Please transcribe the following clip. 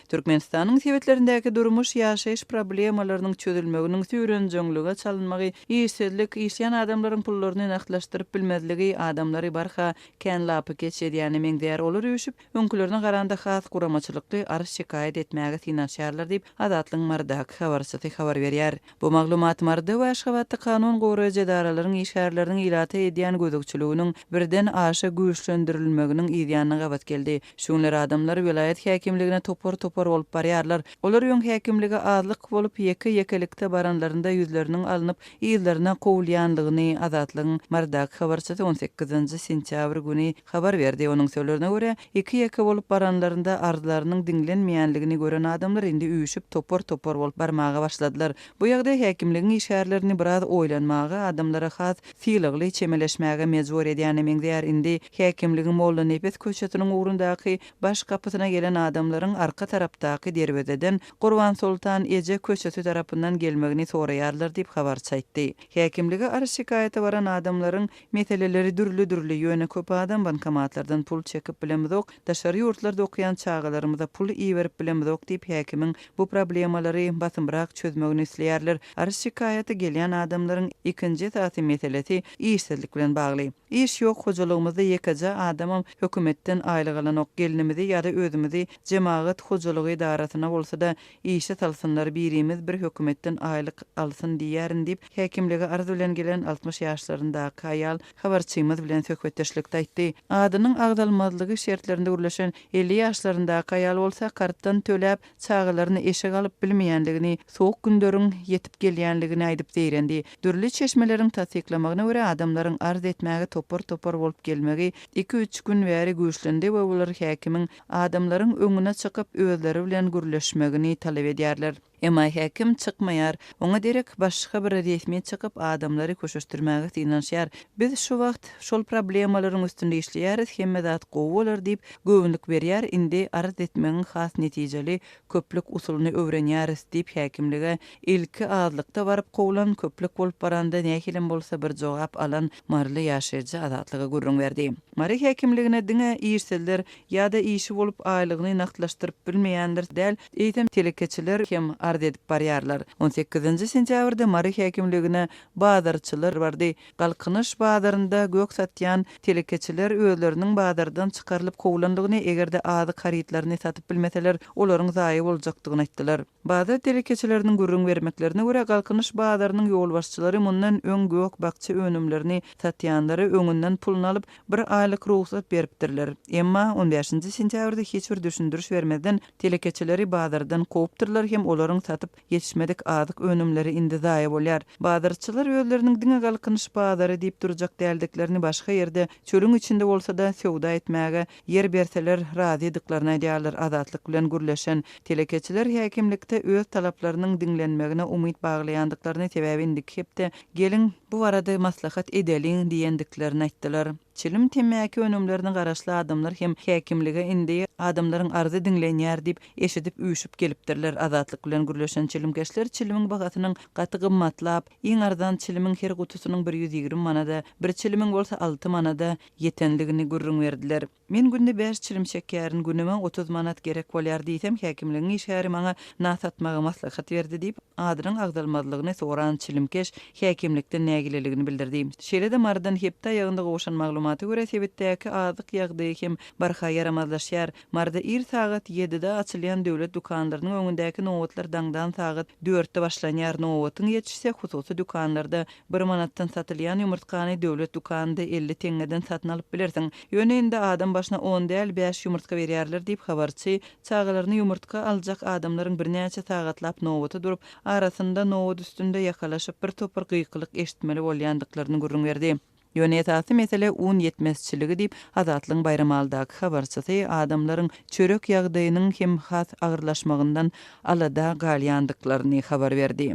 Türkmenistanyň sebitlerindäki durmuş-ýaşaýyş problemalarynyň çözülmeginiň süýrenjeňlige çalynmagy, işsizlik, işleýän adamlaryň pullaryny nagtlaşdyryp bilmezligi adamlary barha kän lapykeç edýäne meňzeýär, olar üýşüp, öňkülerine garanda has guramaçylykly arz-şikaýat etmäge synanyşýarlar diýip, Azatlygyň Marydaky habarçysy habar berýär. Bu maglumat Maryda we Aşgabatda kanun goraýjy edaralaryň işgärleriniň ilata edýän gözegçiliginiň birden aşa güýçlendirilmeginiň yzýanyna gabat geldi. Şu günler adamlar welaýat häkimligine topar-topar bolup barýarlar. Olar öň häkimlige azlyk bolup, ýeke-ýekelikde baranlarynda ýüzleriniň alnyp, yzlaryna kowulýanlygyny Azatlygyň Marydaky habarçysy on sekizinji sentýabr güni habar berdi. Onuň sözlerine görä, ýeke-ýeke bolup baranlarynda arzlarynyň diňlenmeýänligini gören adamlar indi üýşüp, topar-topar bolup barmaga başladylar. Bu ýagdaý häkimligiň işgärlerini biraz oýlanmaga, adamlara has sylagly çemeleşmäge mejbur edýäne meňzeýär. Indi. Häkimligiň Mollanepes köçesiniň ugrundaky baş gapysyna gelen adamlaryň arka tarapdaky derwezeden Gurbansoltan eje köçesi tarapyndan gelmegini soraýarlar diýip, habarçy aýtdy. Häkimlige arz-şikaýata baran adamlaryň meseleleri dürli-dürli, ýöne köp adam bankomatlardan pul çekip bilemizok, daşary ýurtlarda okaýan çagalarymyza pul iberip bilemizok diýip, häkimiň bu problemalary basymrak çözmegini isleýärler. Arz-şikaýaty gelýän adamlaryň ikinji esasy meselesi işsizlik bilen bagly. Iş ýok hojalygymyzda ýekeje adamam hökümetden aýlyk alanok gelnimizi ýada özümizi jemagat hojalygy edarasyna bolsada işe salsynlar birimiz bir hökümetden aýlyk alsyn diýýärin diýip häkimlige arz bilen gelen altmyş ýaşlaryndaky aýal habarçymyz bilen söhbetdeşlikde aýtdy adynyň agzalmazlygy şertlerinde gürleşen elli ýaşlaryndaky aýal bolsa kartdan töläp Çagalaryny eşek alyp bilmeýändigini, sowuk günleriň ýetip gelýänligini aýdyp zeýrendi. Dürli çeşmeleriň tassyklamagyna görä, adamlaryň arz etmäge topar-topar bolup gelmegi iki-üç gün bäri güýçlendi we olar häkimiň adamlaryň öňüne çykyp, özleri bilen gürleşmegini talap edýärler. Emma häkim çykmaýar. Oňa derek başga bir resmi çykyp, adamlary köşeşdirmäge synanyşýar. Biz şu wagt şol problemalaryň üstünde işleýäris, hemme zat gowy bolar diýip, Göwünlik berýär, indi arz etmegiň has netijeli köplük usulyny öwrenýäris, diýip, häkimlige ilki azlykda baryp kowlan, köplük bolup baranda nähilem bolsa bir jogap alan maryly ýaşaýjy Azatlyga gürrüň berdi. Mary häkimligine diňe işsizler ýa-da işi bolup aýlygyny nagtlaşdyryp bilmeýänler däl, eýsem, telekeçiler hem arz edip barýarlar. On sekizinji sentýabrda Mary häkimligine bazarçylar bardy, Galkynyş bazarynda gök satýan telekeçiler özleriniň bazardan çykarylyp kowlandygyny, eger-de azyk harytlaryny satyp bilmeseler, olaryň zaýa boljakdygyny aýtdylar. Bazar telekeçileriniň gürrüň bermeklerine görä, Galkynyş bazarynyň ýolbaşçylary mundan öň gök-bakja önümlerini satýanlara öňünden puluny alyp, bir aýlyk rugsat beripdirler. Emma, on bäşinji sentýabrda hiç bir düşündiriş bermezden, telekeçileri bazardan kowupdyrlar hem olaryň satyp Ýetişmedik azyk önümleri indi zaýa bolýar. Bazarçylar özleriniň diňe Galkynyş bazary diýip durjak däldiklerini başga ýerde, çölüň içinde bolsa-da söwda etmäge ýer berseler razydyklaryny aýdýarlar. Azatlyk bilen gürleşen telekeçiler häkimlikde öz talaplarynyň diňlenmegine umyt baglaýandyklaryny, sebäbi indiki hepde geliň, bu barada maslahat edeliň diýendiklerini aýtdylar. Çilim, temmäki önümlerine garaşly adamlar hem häkimlige indi adamlaryň arzy diňlenýär diýip eşidip üýşüp gelipdirler. Azatlyk bilen gürleşen çilimkeşler çilimiň bahasynyň gaty gymmatlap, iň arzan çilimiň her gutusynyň bir ýüz ýigrimi manada, bir çilimiň bolsa alty manada ýetendigini gürrüň berdiler. Men günde bäş çilim çekýärin, günüme otuz manat gerek bolýar diýsem, häkimligiň işgäri maňa na satmagy maslahat berdi diýip, adynyň agzalmazlygyny soran çilimkeş häkimlikden nägileligini bildirdi. Şeýle-de Marydan hepde aýagynda gowşan maglumata görä, sebitdäki azyk ýagdaýy hem barha ýaramazlaşýar. Maryda ir sagat ýedide açylýan döwlet dükanlarynyň öňündäki nobatlar daňdan sagat dörtde başlanýar. Nobatyň ýetişse, hususy dükanlarda bir manatdan satylýan ýumurtgany döwlet dükanynda elli teňňeden satyn alyp bilersiň. Ýöne indi adam başyna on däl, bäş ýumurtga berýärler diýip, habarçy çagalaryny ýumurtga aljak adamlaryň birnäçe sagatlap nobata durup, arasynda nobat üstünde ýakalaşyp bir topar gykylyk eşitmeli bolýandyklaryny gürrüň berdi. Ýöne esasy mesele un ýetmezçiligi diýip, Azatlygyň Baýramaldaky habarçysy adamlaryň çörek ýagdaýynyň hem has agyrlaşmagyndan alada galýandyklaryny habar berdi.